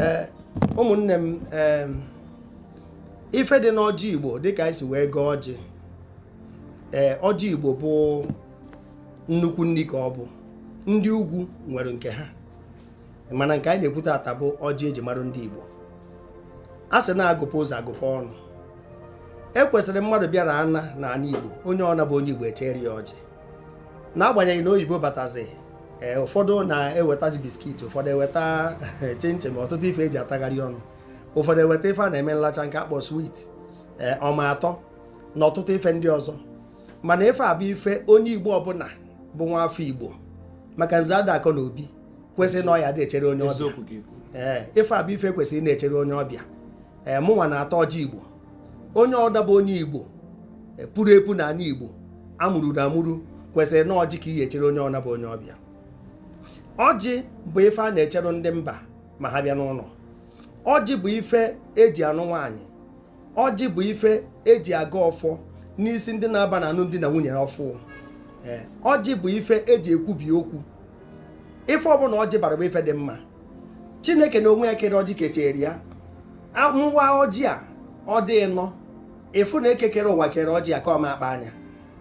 ee ụmụnne m ee ife dị n'ọjị igbo dịka anyị si wee gọọ ọjị ee ọjị igbo bụ nnukwu nni ka ọ bụ ndị ugwu nwere nke ha mana nke anyị na-ekwu taata bụ ọjị eji mara ndị igbo a sị na a gụpụ ụzọ a gụpụ ọnụ e kwesịrị mmadụ bịara ana n'ana igbo onye ọna bụ onye igbo echere ya ọjị n'agbanyeghị na oyibo batazi ee eh, ụfọdụ na-ewetazi biskit ụfọdụ eweta chinchin eh, ọtụtụ ife eji atagharị ọnụ ụfọdụ eweta ife a na-eme nlacha nke a kpọ swit ee eh, ọma atọ na ọtụtụ ife ndị ọzọ mana ife a bụ ife onye igbo ọbụna bụ nwa afọ igbo maka nze ada akọ na obi kwesịrị na ọ ya dị echere onye ọbịa ee ife a bụ ife kwesịrị na-echere onye ọbịa ee mụnwa na-ata ọjị igbo onye ọna bụ onye igbo e, puru epu n'ana igbo amụrụ na amụrụ kwesịrị na ọjị ka ị ya-echere onye ọna bụ onye ọbịa ọjị bụ ife a na-echere ndị mba ma ha bịa n'ụnọ ọjị bụ ife eji anụ nwaanyị ọjị bụ ife eji agọ ọfọ n'isi ndị na-aba n'anụm di na nwunye ọfụụ e, ọjị bụ ife eji ekwubi okwu ife ọbụna ọjị bara bụ ife dị mma chineke na onwe ya kere ọjị kechere ya a waa ọjị a ọ dị ịnọ ị fụ na eke kere ụwa kere ọjị a ka ọ ma akpa anya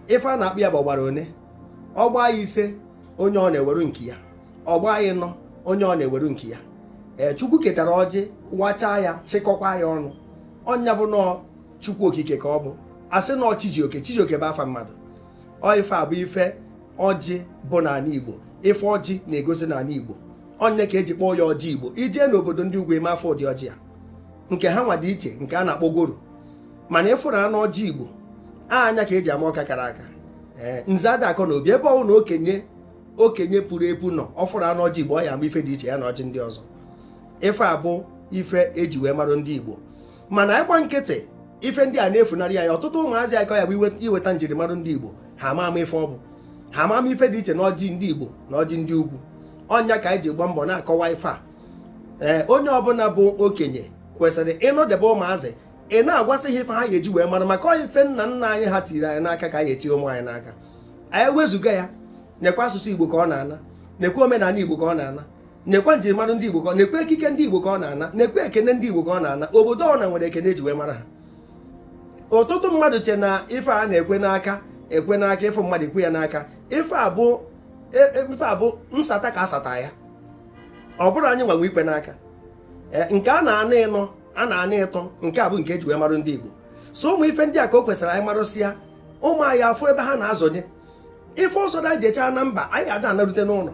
ife a na-akpọ ya bụ ọ gbara one ọ gbaa ya ise onye ọna eweru nke ya ọ gbaa ya ịnọ onye ọna eweru nke ya ee chukwu kechara ọjị wachaa ya chịkọkwa ya ọnụ ọ nya bụ na ọ chukwu okike ka ọ bụ a sị na ọ chi ji oke chijioke bụ afa mmadụ ọ ife a bụ ife ọjị bụ n'ana Igbo ife ọjị na-egosi n'ana Igbo ọ nya ka eji kpọọ ya ọjị Igbo i jee n'obodo ndị ugwu ị ma afụ ụdị ọjị a nke ha nwa dị iche nke a na-akpọ goro mana ị fụrụ anụ ọjị Igbo anya ka eji ama ọka kara aka ee nze ada akọ na obi ebe ọbụna okenye puru epu nọ ọ fụrụ anụ ọjị Igbo ọ ya-ama ife dị iche ya na ọjị ndị ọzọ ife a bụ ife eji wee marụ ndị Igbo mana ị gba nkịtị ife ndị a na-efunarị ya ọtụtụ ụmụazị akọ ya bụ i weta njirimara ndị Igbo ha ama ama ife ọ bụ ha ama ama ife dị iche na ọjị ndị Igbo na ọjị ndị ugwu ọ nya ka anyị ji gba mbọ na-akọwa ife a ee eh, onye ọbụna bụ okenye kwesịrị ịnọdebe ụmụazị ị na-agwasị ha ife ha ga-eji wee mara maka ọ ife nna nna anyị ha tiri anyị n'aka ka anyị etinye ụmụ anyị n'aka anyị wezụga ya nekwa asụsụ Igbo ka ọ na-ana nekwa omenala Igbo ka ọ na-ana nekwa njirimara ndị Igbo ka ọ nekwa ekike ndị Igbo ka ọ na-ana nekwa ekene ndị Igbo ka ọ na-ana obodo ọna nwere ekene eji wee mara ha ọtụtụ mmadụ che na ife a na-ekwe n'aka ekwe n'aka ịfụ mmadụ ekwe ya n'aka ife a bụ e, e, ife a bụ nsata ka asata ya ọ bụrọ anyị nwa nwe ikwe n'aka e, nke a na-ana ịnọ a na-ana ịtọ nke a bụ nke eji wee marụ ndị Igbo so ụmụ ife ndị a ka o kwesịrị anyị marụsịa ụmụ anyị afụ ebe ha na-azọnye ife ọsọ da jechaa na mba anyị ada anarute n'ụlọ